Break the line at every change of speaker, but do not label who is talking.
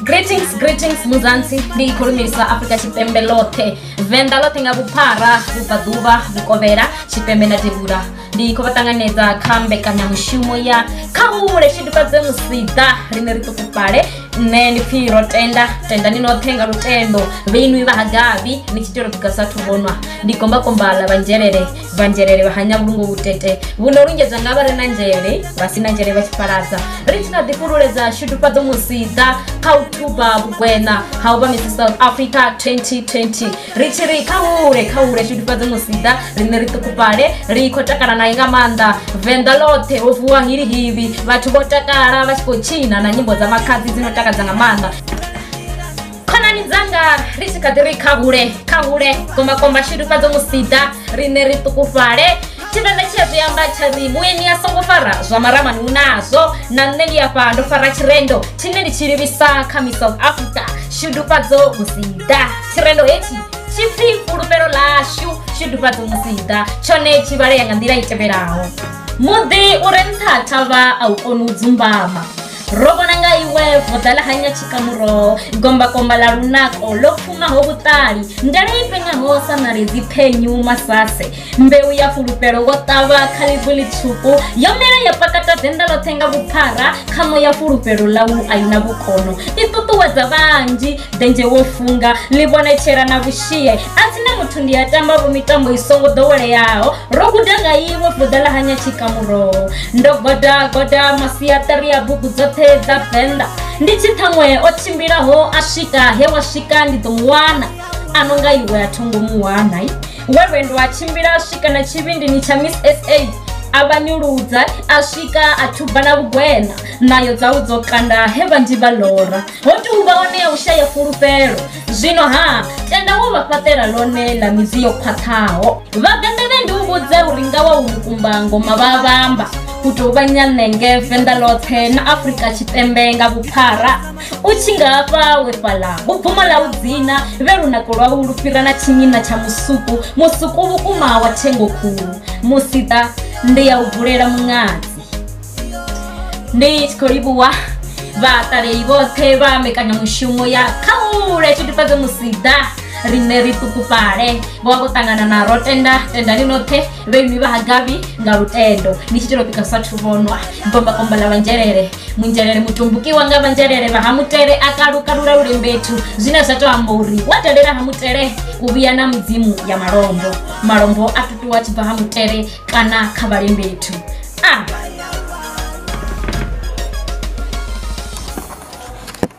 greetings greetings muzansi ndi ikhulumilisa africa chipembe lothe venda lothe nga vhuphara vhubvaḓuvha vhukovhela tshipembe na tevhula ndi khou vha ṱanganedza kha mbekanyamushumo ya kha hule tshidifhadze musida rine ri ṱukufhale nṋe ndi pfhi ro tenda tenda ni noṱhe nga lutendo vheinwi vha hagabi ni tshi tea uri bugasa thu vhonwa ndi gombakomba ḽa vhanzhelele vha nzhelele vha hanya vhulungo vhutete vhuno lungedzwa nga vha re na nzhele vha si na nzhele vha tshifhaladza ri tshi kha ḓi fhululedza shudufhadzo musiḓa kha u thuba vhugwena ha u vha misi south africa 2020 ri tshi ri kha hule kha hule shudufhadzo musiḓa riṋe ri ṱukufhale ri khou takala naye nga maanḓa venḓa ḽoṱhe ho vuwa hilihili vhathu vho takala vha tshi khou tshina na nyimbo dza makhadzi dzi no takadza nga maanḓa khonani dzanga ri tshi kha ḓi ri kha hule kha hule gombakomba shidufhadzo musida riṋe ri ṱukufhale tshivenda tshi a zwi amba tsha ri vhueni a songo fara zwa maramani hu nazwo na nṋe ndi afha ndo fara tshirendo tshine ndi tshi livhisa kha mi south africa shidufhadzo musida tshirendo hetshi tshi pfi fhulufhelo ḽashu shidufhadzo musida tshone tshi vhalea nga nḓila i tevhelaho muḓi u re nṱha thavha a u koni u dzumbama ro vhona nga iwe voḓa ḽa hanya tshikamuroho gombakomba ḽa lunako ḽo pfumaho vhuṱali ndele i pengaho sa ṋaledzi phenyu masase mbeu ya fulufhelo wo ṱavha kha ḽivu ḽitswuku yo mela ya pakata denda ḽoṱhe nga vhuphara kha moya fulufhelo ḽau a i na vhukono i ṱuṱuwedza vhanzhi denzhe wo funga ḽi vhonetshela na vhushie a si na muthu ndi a tamba vho mitambo i songo ḓoweleaho ro guda nga iwe vuḓa ḽa hanya tshikamuroho ndo goda goda masiaṱari ya bugu dzoṱhe dza venḓa ndi tshi ṱhaṅwe o tshimbilaho a swika he wa swika ndi ḓo mu wana a no nga iwe a thongo mu wana we lwendo a tshimbila a swika na tshivhindini tsha miss sa a vha nyuludza a swika a thuba na vhugwena nayo dzawu dzo kanda he vhanzhi vha lora Ho tou vha hone ya u shaya fhulufhelo. Zwino-ha, tenda wo vha fhaṱela ḽone ḽa midzi yo khwaṱhaho. Vhavenḓa vhe ndi u vhudza uri nga wa u lukumba ngoma vha vhamba u tou vha nyanenge venḓa ḽoṱhe na Afrika Tshipembe nga vhuphara. U tshi nga hafha we fhaḽa vhubvumo ḽa u dzina vhe lunako lwau lu fhira na tshinyina tsha musuku, musuku vhukuma wa thengo khulu. Musiḓa, ndi ya u bulela muṅadzi. ndi tshi khou livhuwa vhaṱaleli vhoṱhe vha mbekanyamushumo ya khaule tshitufhedze musida riṋe ri ṱukufhale vho vha vho ṱangana na ro tenda tendani noṱhe vhe nnwi vha hagabi nga lutendo ni tshi telo pika sa thu vhonwa bombakomba ḽa vhanzhelele munzhelele mutumbukiwa nga vhanzhelele vha ha mutele a kalukalula lulembethu zwine zwa tou amba uri wa dalela ha mutele u vhuya na mudzimu ya malombo malombo a tutuwa tshi bva ha mutele kana kha vhalembethu a.